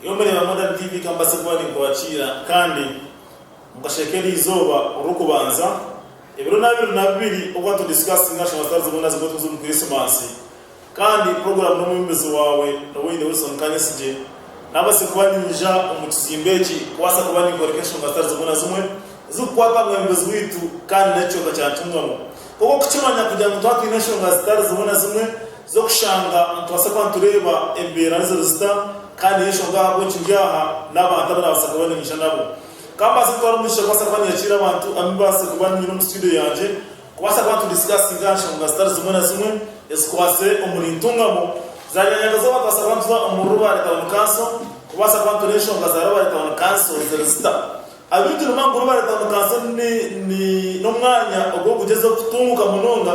Iyo mureeba mwena tivi ka mbaase kuba ninkurakiira kandi mukasheeka eri izooba orurikubanza ebiro n'abiri na bibiri obwa to discussing national stars boona zigwe tuze omu Kirisimasi kandi puroguramu n'omwebembezi waawe Nowaire Wilson Kanyesigye naabaase kuba niinja omu kizimbe eki kubaasa kuba ninkoreka enshonga zitari zimwe na zimwe ezirikukwata aha mwebembezi waitu kandi n'ekicweka kya Ntungamo nk'oku okukimanya kugira ngu twatwine enshonga zitari zimwe na zimwe z'okushanga nitubaasa kuba nitureeba embeera niziri zita kandi y'enshonga ahabw'enki ndi aha n'abantu abu naabaasa kuba niinyija nabo. Ka mbaase kutwara omugisha kubaasa kuba ninyakira abantu abu mbaase kuba nyine omu situdiyo yangye kubaasa kuba nitudisikasinga aha nshonga zitari zimwe na zimwe ezikwatsire omuri Ntungamo. Zaariba Nyakazooba nitubaasa kuba nituza omuri Rubare Town Council kubaasa kuba nitureeba enshonga za Rubare Town Council ziri zita. Abaitu nibaamanya ngu Rubare Town Council n'omwanya ogu orikugyezaho kutunguuka munonga.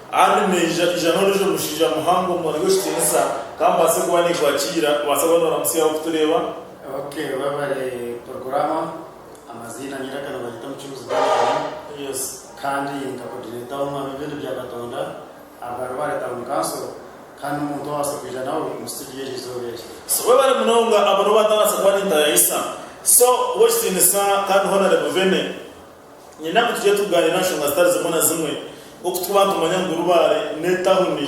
Haandi naija ija n'ondiijo mushaija muhango mubone gw'ekitiinisa, ka mbaase kuba ninkwakiira, obaase kuba nooramutsyaho okutureeba. Abakuheebwa bari Porokorama, amaziina nyiraka nibageeta Omucunguzi Duncan, kandi nka Kodineeta w'Omwami w'Ebyondo bya Katonda abari baari Tawuni Kanso, kandi n'omuntu owabaasa kwija nawe omu situdiyo eri izooba eri. So we bari munonga, abo nibo baatabaasa kuba nintayayisa, So w'ekitiinisa kandi Honore Muvene. Niinyenda ngu tugire tugaaniire aha nshonga zitari zimwe na zimwe nk'oku twaba nitumanya ngu Rubare n'etauni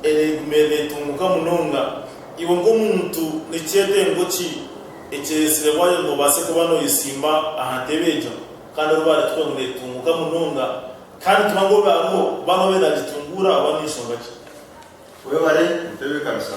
ereegumire neetunguuka munonga. Iwe nk'omuntu ni kyetengo ki ekyeretsirebwayo ngu obaase kuba nooyesimba aha ntebe egyo kandi Rubare tuhure ngu neetunguuka munonga kandi nituba ngu obe hariho bamwe abe naagitunguura oba n'enshonga ki? Webare kutebeekanisa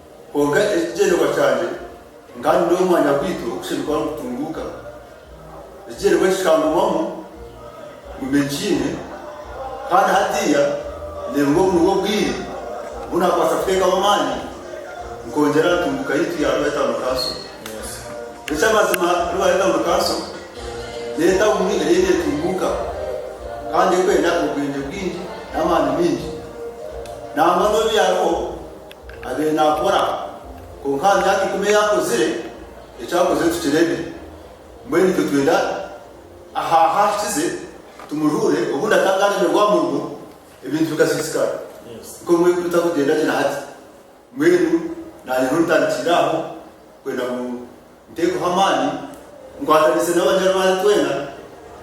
Kwonka eki kigyenderwa kyangye, nkaba nindeeba omwanya gwaitu ogurikushemererwa kuba nigutunguuka. Ekigyenderwa eki kikangumamu ngu mbegiine kandi hatiiya ndeebe ngu obu nibwo bwire obu naakubaasa kuteekaho amaani nkongyera aha ntunguuka yaitu ya Rware Town Council. Eky'amazima Rware Town Council niyo tauni eriyo neetunguuka kandi erikwenda obwengye bwingi n'amaani maingi nangwa n'obu yaabaho. Abaire naakora, kwonka aha myaka ikumi ei akozire, eki akozire tukireebe. Mbwenu itwe twenda aha ahu ahikize tumujuure, obundi akaba naaremerwa aha murimo, ebintu bikasiisikara. Nikwo bumwe bitakugyenda gye na hati. Mbwenu naanye niho ntandikire aho kwenda ngu. Nteekaho amaani, nkwatanise n'abanyarwanda twena,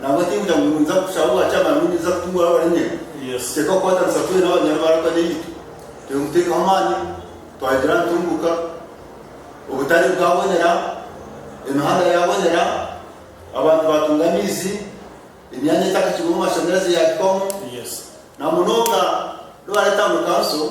nangwa tingira ngu ninza kukushaba obwa kyamaani ngu ninza kutunga oraabaremerwe. Teekaho kukwatanisa twena abanyarwanda twena eitwe. Reero nkuteekaho amaani, twagira ntunguuka, obutare bwabonera, emihanda yaabonera, abantu baatunga amaizi, emyanya etakahikirweho mashanyarazi yaahikwamu, namunonga Rware Town Council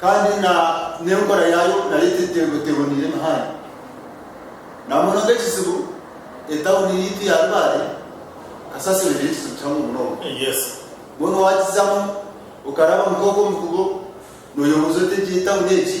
Kandi na n'enkora yaayo nayo teboneire muhanya. Na munonga ekizibu etawuni yaitu ya Rubare kasasiro neyo ekizibu kihango munonga. Mbwenu wagizamu okaraba nk'oku omukubo noyebuuza oti egyo etawuni egi?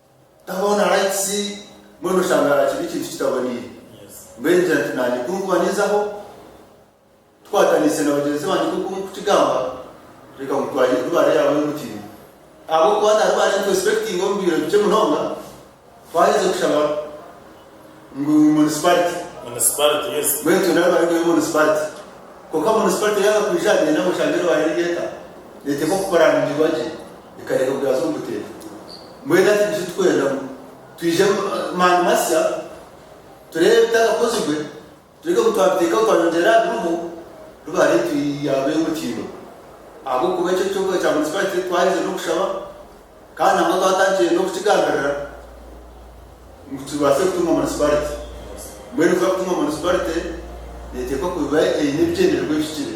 Tahaho na likes mbwenu oshanga harakiri ekintu kitaboniire. Mbwenu ningira nti naanye ku nkuba ninzaho tukwataniise na bagyenzi bangye nk'oku mukukigamba reka ngu twayire Rubare yaabo y'omutindo ahabw'okuba na Rubare nituexpectinga omu bwire bukye munonga twaheza kushaba. Ngu municipality. Municipality, yes. Mbwenu itwe nabo bari kureeba municipality. Kwonka municipality yanga kwija aha byenda ngu eshange erwaare eri eka, neeteeka okupuraningirwa gye, ekareeba ngu yaaza omu buteeka. Mbwenu hati nitushi turikwenda ngu twije mani masya tureebe ebitakakozirwe. Tureke ngu twabiteekaho twaayongyera aha biriho, rubi ahaitwe yaaba eyomukiiba. Ahabw'okuba eki ekyokuha ekya munisipaarite twaherize n'okushaba kandi nangwa twatandikire n'okukigambirira ngu kibaase kutunga munisipaarite. Mbwenu kuza kutunga munisipaarite neeteekwa kuba eine ebigyendererwa ebihikire.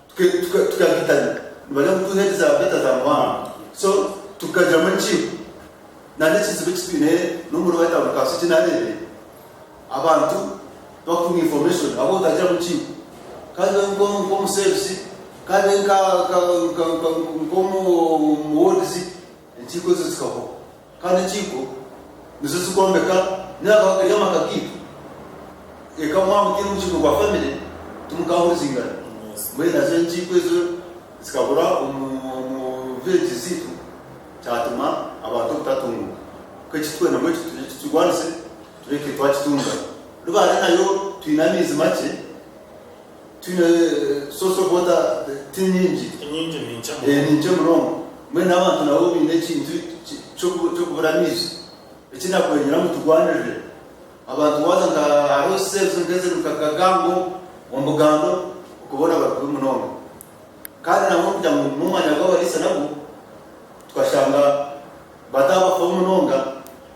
Tukagitarya nibareeba ngu twine ente beta za muhango so tukagyamu enkiiko nana ekizibu ekitwine nomuri white house kasokye nareebire abantu bakufuna information ahakuba otagire mukiiko kandi obe nkomuseebisi kandi obe nkomu wards enkiiko ezo zikahoraho. Kandi enkiiko nizo zikwombeka nari eri amaka gaitu. Eka mwaaba otaine mukiiko gwa famire, timukahurizingana. Mbwenu nazo enkiiko ezo zikabura omu vileegi zaitu, kyatuma abantu obutatunguka. Kwonka eki turikwenda ngu eki tukirwanise, tureke twakitunga. Ribaare nayo twine amaizi makye, Twine source of water ti nyingi. Enyingi ni nkye munonga. Ni nkye munonga. Mbwenu n'abantu nabo baine ekintu ky'okubura amaizi. Eki nakwengera ngu turwanirire abantu waaza nka hariho cells nk'eziri nka Kagango omu Bugando okwo boona bari kubi munonga. Kandi nangwa kugira ngu ogume omwanya gw'abariisa nagwo tukashanga bataabafaho munonga.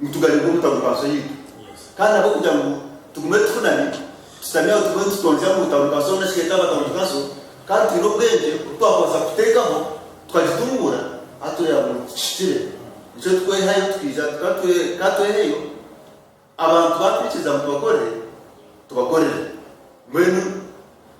Nitugaruka omu ntabukaso yaitu kandi ahabw'okugira ngu tugume tukunami, tushutami aho tugume nitutonzya omu ntabukaso nari shi etaba ntabukaso kandi twine obwengye obu twakubaasa kuteekaho tukagitunguura ahu tureeba ngu tikihikire. Nikyo twehayo tukaija ka tweheyo abantu baakwikiriza ngu tubakorere, tubakorere. Mbwenu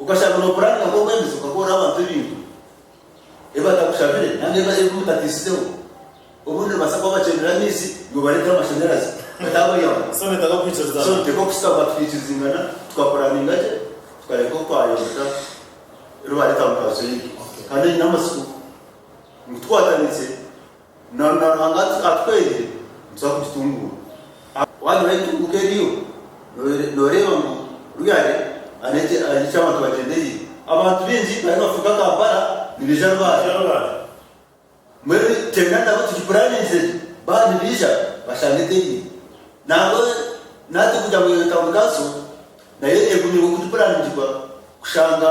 Okashanga noopuraninga nk'obwembezi okakoorera abantu ebintu ebi batakushabire nari ebi mutateisizeho. Obundi nibabaasa kuba bakyendera amaizi, iwe obareetera amashanyarazi. Beitu abo yawa. So niteeka okushutama tukiikirizingana, tukapuraninga gye, tukareka oku twayombeka eri baareeta mu Paruso yaitu. Kandi oine amatsiko ngu tukwataniise, Nanoona Ruhanga ati atwegye nituza kugitunguura. Waaba nooreeba entunguuka eriyo, nooreeba ngu Ruyare ari ahari ki abantu bagyendereire? Abantu baingi bariyo nibafuuka Kampala nibaija Rubare. Mbwenu twena nabo tugipuraningize gye. Baaba nibaija bashanga eteriyo. Nangwa naatwe kugira ngu Town Council nayo egume nk'oku turikuraaniningirwa kushanga.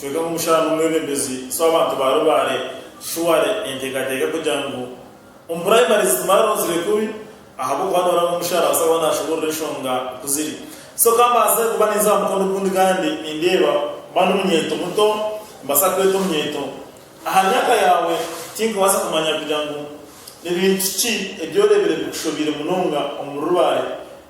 Kwonka omu mushana omwebembezi z'abantu ba Rubare Shuare entekateka kugira ngu omu primary zitumare rounds rekubi ahabwokuba noreeba ngu omushana nabaasa kuba nashoborora enshonga kuziri so kambaase kuba ninza aha mukono ogundi kandi nindeeba kuba ndi omunyeeto muto nimbaasa kweeta omunyeeto aha myaka yaawe tinkubaasa kumanya kugira ngu nibintu ki ebi oreebire bikushobiire munonga omuri Rubare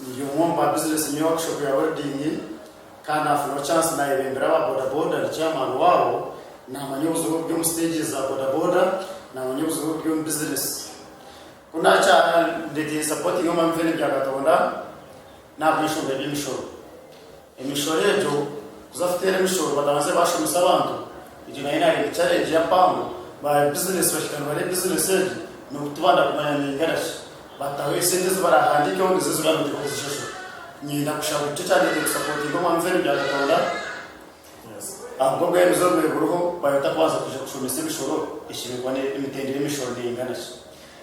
Ndi omwe omu ba bizinesi nyine workshop ya welding kandi nafunaho chance nayebembera aba bodaboda ndi chairman waabo, namanya obuzibu oburi omu stages za bodaboda, namanya obuzibu oburi omu bizinesi. Ku nakyara ndetiire supporting omwami Fene Byakatonda nahabw'enshonga y'eby'emishoro. Emishoro egyo kuza kuteera emishoro bakabanza bashomesa abantu egyo nayo nareeta challenge ya mpango ba business bashika nibare business egyo nokutubanda kumanya ninganashi bataho esente ezibarahandikeho nizo ezibarikubaasa kuzishashura nyenda kushaba nikyo kyandetere kusapotinga omwami fene bya katonda ahabwobwemezi obubire buriho bayeta kubanza kuja kushomesa emishoro eshemeza kuba emitendera yemishoro nenganashi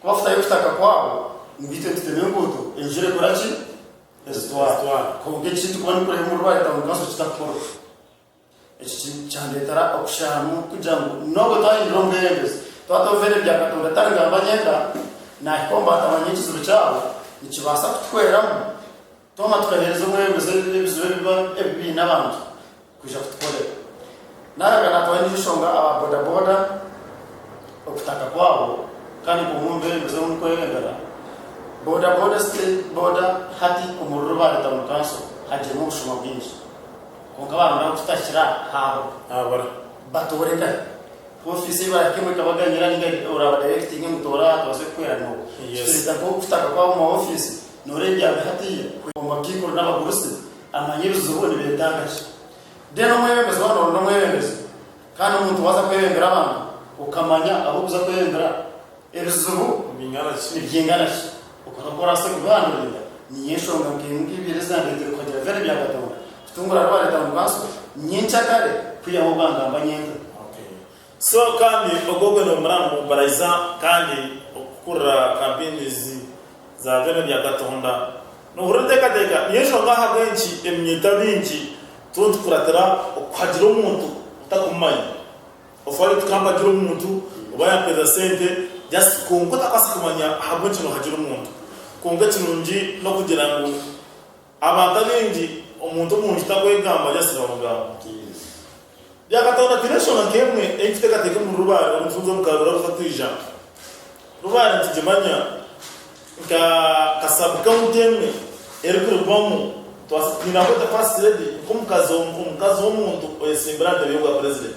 Kubafutayo okutaka kwabo nigaitwe nitutema enguuto enjura ekora ki? Ezitwara. Kwonka eki turikuba nitureeba omuri White Town Council kitakukora. Eki kyandeetera okushaahamu kugira ngu n'obu twahindura omubeebembezi twaba tworoveire ebya Katonda tari ngu aba anyenda, naahika omu baatabanyaho ekizibu kyabo, nikibaasa kutuhweramu Twaba tukaheereza omwebembezi ebizibu ebiba biine abantu kwija kutukorera. Naaraga naatwara endiijo nshonga aba bodaboda okutaka kwabo kandi nka omwe omu beebembezi orimu kwereebera, bodaboda zitari boda hati omu ruriro baareeta omu kanso hagiremu obushuma bwingi kwonka baarondaho kutakira haabura. Batooreka ku ofiisi ei barahika emwe ekabaganyira nainga oraabadirekitinge ngu toora aha tubaase kukuhwera nooku. Kitureeta nk'okutaka kwabo omu ma ofiisi. Noreebya aha hatiiya kwe omu matiikuru n'abagurusi amanyirizo bo nibetaaga ki? Then omwebembezi waaba nooronda omwebembezi kandi omuntu waaza kwebembera abantu okamanya abu orikuza kwebembera ebizibu nibyingana ki okora oku oraase kubihanduringa niyo enshonga nk'emwe nka ibiiri ezirandeeteire kuhagira Vero ebya Katonda kutungura Rwareeta Mukanso nyenkya kare kwihaho bwangamba nyente. So kandi ogwo gwe nomuramu baraiza kandi okukurira kampini ezi za byona bya Katonda. Nohurira otekateka niyo nshonga ahabwenki eminyeto abingi turiho nitukuratira okuhagira omuntu otakumumanya. Ofwa ori tikampagira omuntu oba yamperiza sente just kwonka otakwaasa kumanya ahabwenki nohagira omuntu. Kwonka ekirungi nokugira ngu. Abantu abaingi omuntu omwingi takwegamba ari asiba mugambo. Byakatonda twine enshonga nk'emwe ei kuteekateeka omuri Rubaare omu bufunzo omu Karuura buta twija. Rubaare nitugimanya nka ka sub county emwe erikuribwamu twaasa twine ahu eta first lady nk'omukazi omukazi w'omuntu oyetsimbire aha ntebe y'obwa president.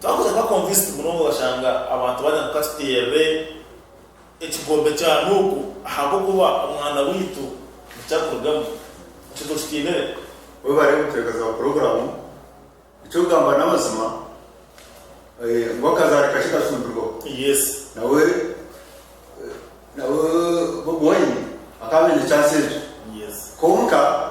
Twakuza nka convinced munonga okashanga abantu bari ngu katuteerere ekigombe kya Nuuku ahabw'okuba omwana waitu nikyo arikurugamu. Ekyo tokitinire. Webare kutuhekaza aha puroguramu. Eky'okugamba n'amazima ngu akazaari kakye kacumbirwaho. Yes. Nawe nawe Bobi Wine akaba aine chance egyo. Yes. Kwonka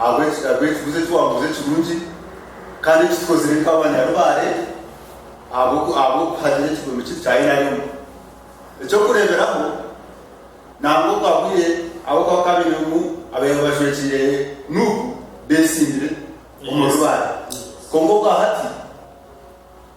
Ahabw'enki? Ahabw'ekibuuzo eki waabuuza ekirungi kandi eki tukozire nk'abanyarubaare ahabw'oku ahabw'okuhagira ekigombe kiri kya Inarium. Eky'okureeberaho, nangwa okwahwire ahabw'okuba bakaba baine omu abaihaho bajwekiire nuuku beesimbire omu rubaare. Kwonka okwahati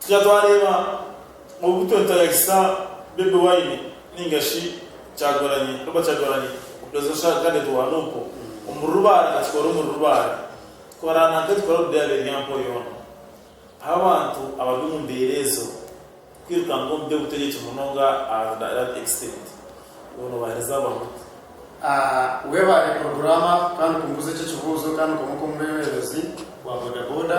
Twija twareeba obu twetayayisa Bobi Wine ninga shi Kyagulanyi, Robert Kyagulanyi, Presidential Candidate wa nup, omu rubaare nka tukora omuri rubaare. Tukora nanka tukora omu byaro ebya Mpo yoona. Ahu abantu abari omu mbeera ezo kwirukanga omu by'obutegyeki munonga aha that extent iwe nobahereza bamu ota? Webare porogurama kandi okumbuuza ekyo ekibuuzo kandi nkomuka omubeebembezi bwa boda boda.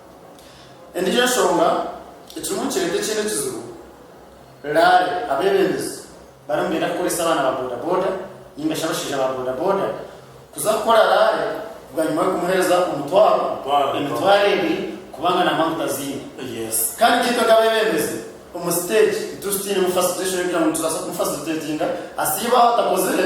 Endiijo nshonga ekirimu nikireeta ekindi kizibu, raare abeebembezi bariyo nibeenda kukoresa abaana ba bodaboda nainga shi abashaija ba bodaboda kuza kukora raare bwanyima y'okumuheereza omutwaro, emitwaro ebiri kubanga na maguta aziine. Kandi itwe nk'abeebembezi omu siteegi tituri tutainemu fasiriteeshooni kugira ngu nitubaasa kumufasiriteetinga asiibe ahu atakozire.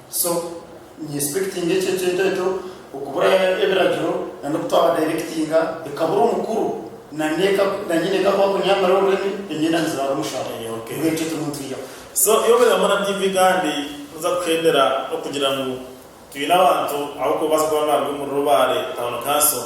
So ni inspectinga ekyo ekintu ekyo okubura ebiragiro na noku twaba directinga ekabura omukuru na neka na nyina eka ku akunyamira orurimi enyenda nizirara omushwara yawe ngu ekyo turimu nitwihaho. So iwe obeera hamwe na TV kandi noza kuhendera okugira ngu twine abantu abu okubaasa kuba nibaruga omuri Rubare Town Council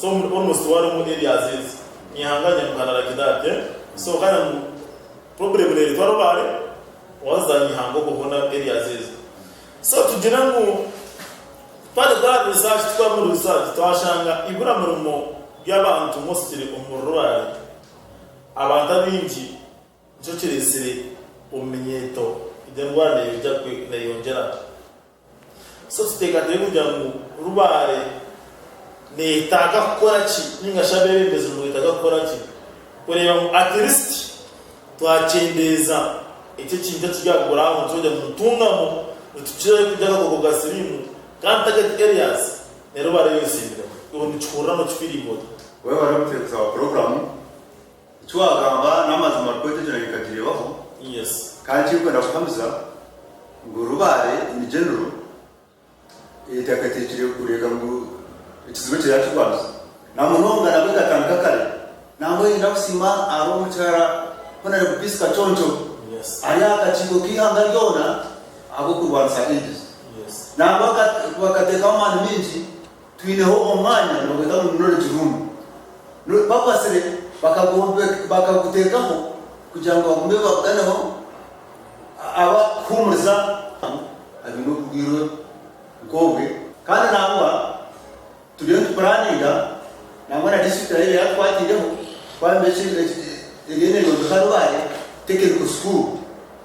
So omuri ono si warimu ebyaziizi? Nyahanga Nyamuhana aragira ate? So kare ngu problem neretwa rubare waza za Nyahanga obwo bwona ebyaziizi. So tugire ngu twari twari research tukora omuri research twashanga ibura murimo byabantu mostly omuri rubare abantu abaingi nikyo kiretsire omu minyeeto egi endwara neyongera. So tuteekateeke kugira ngu Rubare neetaaga kukora ki nainga shi abeebembezi nibetaaga kukora ki kureeba ngu at least twakyendeeza eki ekintu ekiri aha ground twayenda ngu nitungamu nitukirayo kurya akakooko ka siriimu kandi target areas ne Rubare yonsi emiremu. Iwe nikihuriramu, okifiiringa ota? Webale buteebuza aha puroguramu. Eki waagamba n'amazima Orikweta ekyo nanye nkakireebaho kandi ekirikwenda kuhamiza ngu Rubare in general eteekateekire kureeka ngu ekizibu ekyo yaakirwanisa na munonga nabwo ekatandika kare nangwa oine kusiima hariho omukyara Honore Bupisi Kaconco ari aha kakiiko k'eihanga ryona ahabw'okurwanisa aids nangwa bakateekaho amaani maingi Twineho omwanya nobweta ngu ni knowledge room. Bakwatsire bakaguteekaho kugira ngu bagume baguganeho aba kuhuumuriza abaine oburwaire nk'obwe. Kandi nangwa turiyo nitupuraaninga nangwa na district nayo eyatukwatiireho twayombekyire eriyo neyombeka Rubare technical school.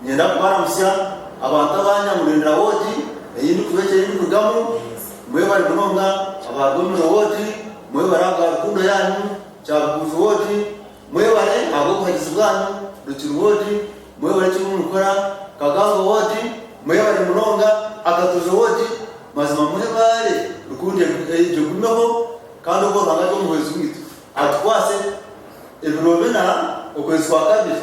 Niinyenda kubaramutsya abantu aba Nyamurindira woodi ei ndikuba eki ei ndikurugamu. Mwebare munonga aba Gomiro woodi, mwebare ahabwa rukundo yaanyu. Kyabuguuzi woodi, mwebare ahabw'obuhagizi bwaanyu. Rukiri woodi, mwebare eki murimu nikukora. Kagango woodi, mwebare munonga. Akatoojo woodi, mazima mwebare rukundo egyo egumeho kandi ogwo Ruhanga atwe omuhwezi waitu, atukwaase ebiro bina okwezi kwa kabiri.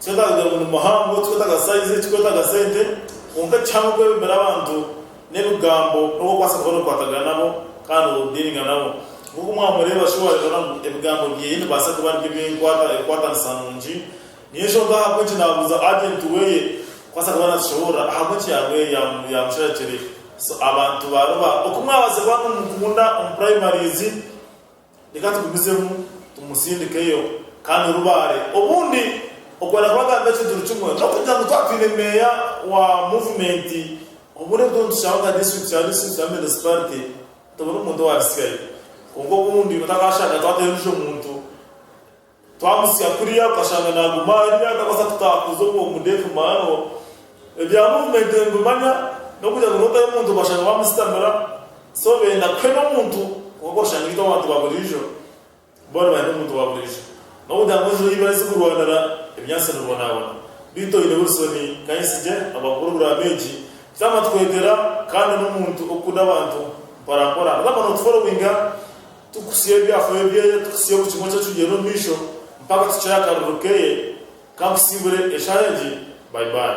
Tikwetaaga kugira ngu ni muhango, tikwetaaga saizi, tikwetaaga sente, kwonka ekihango kwebembera abantu n'ebigambo n'obu orikubaasa kuba nookwatagana nabo kandi noodiiringa nabo. Nk'oku mwamureeba shi waareeba ngu ebigambo byeye nibibaasa kuba nibyo binkwata enkwatanisa nungi? Niyo nshonga ahabw'enki naabuuza ajenti weye kubaasa kuba naatushoboorora ahabw'enki yaabaire yaamusharekire. So abantu baaruba oku mwabaase kuba nimumukunda omu puraimarizi. Reka tugumizemu tumusindikeyo kandi orubaare obundi okwenda kuba agambe ekijuru kimwe n'okugira ngu twatwine meeya wa muvumenti obundi obundi nitushaba nka disiturikiti ya disiturikiti na munisiparite tubone omuntu owarisyayo kwonka obundi otakashanga twateyo ondijo muntu. Twamutsya kurya tukashanga naaguma arya akabaasa kutaakuza ogwo mudeefi maaro ebya muvumenti nibimanya n'okugira ngu nootayo omuntu obashanga baamusitamira so beenda kuhena omuntu kwonka oshanga itwe abantu ba buriijo boona nibaheena omuntu wa buriijo n'okugira ngu enjura ei barize kurwanira ebinyaatsi nibibonaabona beitu oine Wilson Kainsigye abaha puroguraamu egi tutaama twegera kandi n'omuntu okukunda abantu mpora mpora nagamba nootuforowinga Tukusya ebyafaayo byeye, tukusya buri kimwe eky'atwijeire omu maisho mpaka tukire akarorero keye, ka nkusiibure eshaaha egi. Bye bye.